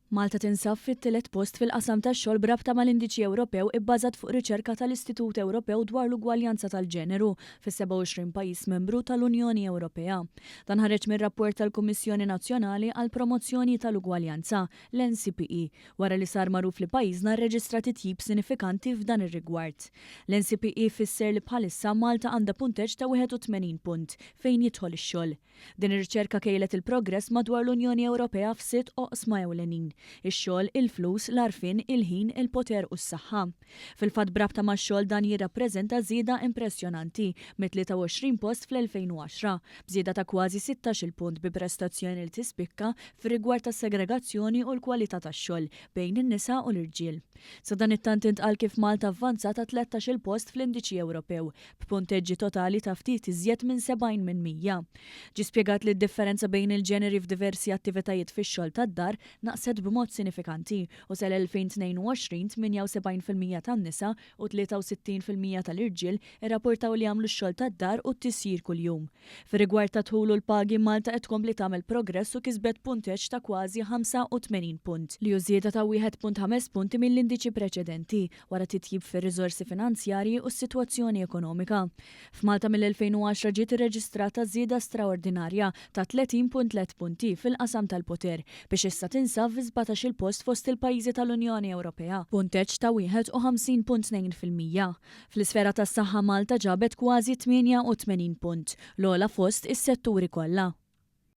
Malta tinsab fit-tielet post fil-qasam tax-xogħol b'rabta mal-Indiċi Ewropew ibbażat fuq riċerka tal-Istitut Ewropew dwar l-Ugwaljanza tal-Ġeneru fis-27 pajjiż membru tal-Unjoni Ewropea. Dan ħareġ mir-rapport tal-Kummissjoni Nazzjonali għall-Promozzjoni tal-Ugwaljanza, l-NCPE, wara li sar magħruf li pajjiżna rreġistra titjib sinifikanti f'dan ir-rigward. L-NCPE fisser li bħalissa Malta għandha punteġġ ta' 81 punt fejn jidħol ix-xogħol. Din ir-riċerka kejlet il-progress madwar l-Unjoni Ewropea f'sitt oqsma ewlenin, ix-xogħol, il-flus, l-għarfien, il-ħin, il-poter u s-saħħa. Fil-fatt b'rabta max-xogħol dan jirrappreżenta żieda impressjonanti mit-23 post fl-2010, b'żieda ta' kważi sittax-il punt bi prestazzjoni li tispikka fir-rigward tas-segregazzjoni u l-kwalità tax-xogħol bejn in-nisa u l-irġiel. Sadanittant intqal kif Malta avvanzat għat-tlettax-il post fl-Indiċi Ewropew b'punteġġi totali ta' ftit iżjed minn 70 minn 100. Ġie spjegat li d-differenza bejn il-ġeneri f'diversi attivitajiet fix-xogħol tad-dar naqset b'mod sinifikanti u sal-2022 78 fil-mija tan-nisa u 63 fil-mija tal-irġiel irrapportaw li jagħmlu x-xogħol tad-dar u t-tisjir kuljum. Fir-rigward tad-dħul u l-pagi, Malta qed tkompli tagħmel progress u kisbet punteġġ ta' kważi 85 punt, li hu żieda ta' 1.5 punti mill-indiċi preċedenti wara titjib fir-riżorsi finanzjarji u s-sitwazzjoni ekonomika. F'Malta mill-2010 ġiet irreġistrata żieda straordinarja ta' 30.3 punti fil-qasam tal-poter biex issa tinsab fi sbatax-il post fost il-pajjiżi tal-Unjoni Ewropea, punteġġ ta' 51.2 fil-mija. Fl-isfera tas-saħħa Malta ġabet kważi 88 punt, l-ogħla fost is-setturi kollha.